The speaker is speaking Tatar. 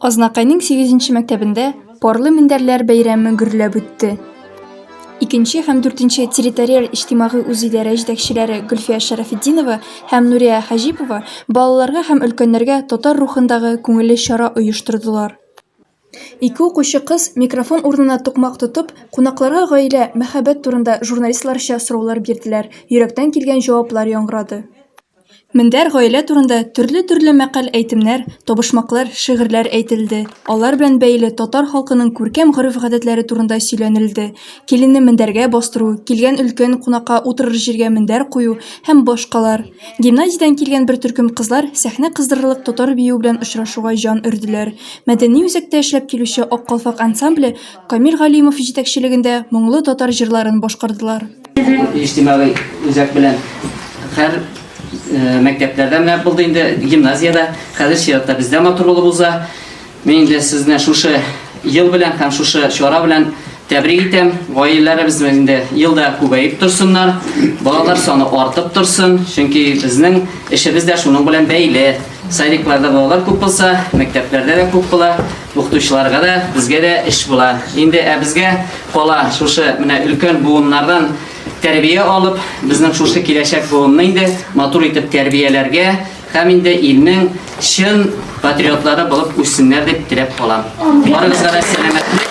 Азнакайның сигезенче мәктәбендә парлы мендәрләр бәйрәме гөрләп үтте. Икенче һәм дүртенче территориаль иҗтимагый үзидарә җитәкчеләре Гөлфия Шәрәфетдинова һәм Нурия Хаҗипова балаларга һәм өлкәннәргә татар рухындагы күңелле чара оештырдылар. Ике укучы кыз, микрофон урынына тукмак тотып, кунакларга гаилә, мәхәббәт турында журналистларча сораулар бирделәр, йөрәктән килгән җаваплар яңгырады. Мендәр гаилә турында төрле-төрле мәкаль-әйтемнәр, табышмаклар, шигырьләр әйтелде, алар белән бәйле татар халкының күркәм гореф-гадәтләре турында сөйләнелде, киленне мендәргә бастыру, килгән өлкән кунакка утырыр җиргә мендәр кую һәм башкалар. Гимназиядән килгән бер төркем кызлар сәхнә кыздырырлык татар биюе белән очрашуга җан өрделәр. Мәдәни үзәктә эшләп килүче Ак калфак ансамбле Камил Галимов җитәкчелегендә моңлы татар җырларын башкардылар. Иҗтимагый үзәк белән һәр э, мәктәпләрдә менә булды инде, гимназиядә, хәзер чиратта бездә матур булып уза. Мин инде сезне шушы ел белән һәм шушы чара белән тәбрик итәм. Гаиләләребез инде елда күбәеп торсыннар, балалар саны артып торсын, чөнки безнең эшебез дә шуның белән бәйле. Садикларда балалар күп булса, мәктәпләрдә дә күп була. Укытучыларга да, безгә дә эш була. Инде ә безгә кала шушы менә өлкән буыннардан тәрбия алып, безнең шушы киләчәк буынны инде матур итеп тәрбияләргә һәм инде илнең чын патриотлары булып үссеннәр дип теләп калам. Барыгызга да сәламәтлек.